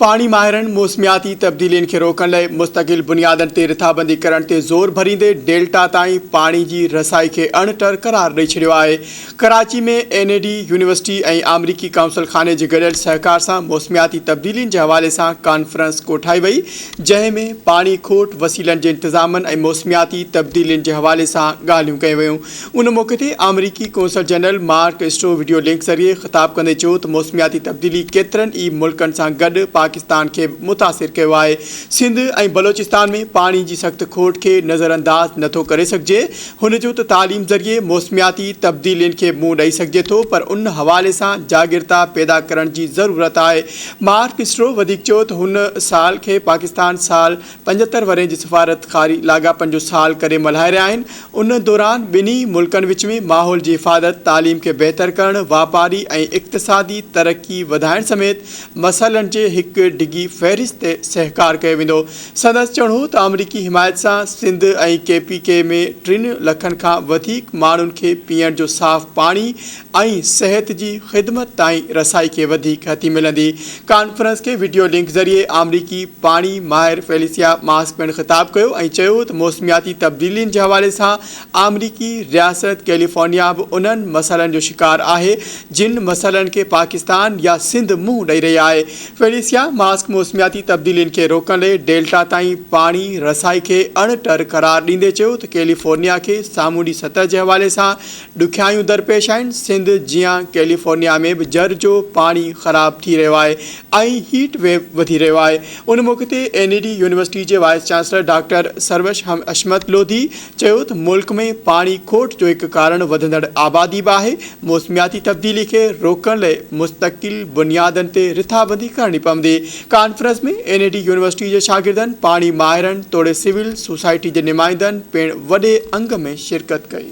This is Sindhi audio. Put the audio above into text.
پاڻي ماهرن موسمياتي تبديلين کي روڪڻ لاء مستقل بنيادن تي رٿابندي ڪرڻ تي زور ڀريندي ڊيلٽا تائين پاڻي جي رسائي کي اڻ ٽر قرار ڏئي ڇڏيو آهي. Karachi ۾ N E D University ۽ آمريڪي قونصل خاني جي گڏيل سهڪار سان موسمياتي تبديلين جي حوالي سان ڪانفرنس ڪوٺائي وئي جنهن ۾ پاڻي کوٽ، وسيلن جي انتظامن ۽ موسمياتي تبديلين جي حوالي سان ڳالهيون ڪيون ويون. ان موقعي تي آمريڪي قونصل general Mark Stroh video link ذريعي خطاب ڪندي چيو ته موسمياتي تبديلي ڪيترن ئي ملڪن سان گڏ پاڪستان کي به متاثر ڪيو آهي، سنڌ ۽ بلوچستان ۾ پاڻي جي سخت کوٽ کي نظرانداز نٿو ڪري سگهجي، هن چيو ته تعليم ذريعي موسمياتي تبديلين کي منهن ڏئي سگهجي ٿو پر ان حوالي سان جاڳرتا پيدا ڪرڻ جي ضرورت آهي، مارڪ اسٽو وڌيڪ چيو ته هن سال کي پاڪستان سال پنجهتر ورهين جي سفارتڪاري لاڳاپن جو سال ڪري ملهائي رهيا آهن، ان دوران ٻنهي ملڪن وچ ۾ ماحول جي حفاظت، تعليم کي بهتر ڪرڻ، واپاري ۽ اقتصادي ترقي وڌائڻ سميت مسئلن جي هڪ ڊگهي فهرست تي سهڪار ڪيو ويندو. سندس چوڻ هو ته آمريڪي حمايت سان سنڌ ۽ ڪي پي ڪي ۾ ٽن لکن کان وڌيڪ ماڻهن کي پيئڻ جو صاف پاڻي ۽ صحت جي خدمت تائين رسائي کي وڌيڪ هٿي ملندي. ڪانفرنس کي وڊيو لنڪ ذريعي آمريڪي پاڻي ماهر فيليسيا ماسڪ پڻ خطاب ڪيو ۽ چيو ته موسمياتي تبديلين جي حوالي سان آمريڪي رياست ڪيليفورنيا به انهن مسئلن جو شڪار آهي جن مسئلن کي پاڪستان يا سنڌ منهن ڏئي رهي آهي فيليسيا ماسڪ موسمياتي تبديلين کي روڪڻ لئي ڊيلٽا تائين پاڻي رسائي کي اڻ ٽر قرار ڏيندي چيو ته ڪيليفورنيا کي سامونڊي سطح جي حوالي سان ڏکيائيون درپيش آهن، سنڌ جيان ڪيليفورنيا ۾ به جر جو پاڻي خراب ٿي رهيو آهي ۽ هيٽ ويو وڌي رهيو آهي، ان موقعي تي اين اي ڊي يونيورسٽي جي vice chancellor doctor Sarosh Hashmat Lodhi چيو ته ملڪ ۾ پاڻي کوٽ جو هڪ ڪارڻ وڌندڙ آبادي به آهي، موسمياتي تبديلي کي روڪڻ لئي مستقل بنيادن تي رٿابندي ڪرڻي پوندي، conference ۾ N E D university جي شاگردن، پاڻي ماهرن توڙي سول سوسائٽي جي نمائندن پڻ وڏي انگ ۾ شرڪت ڪئي.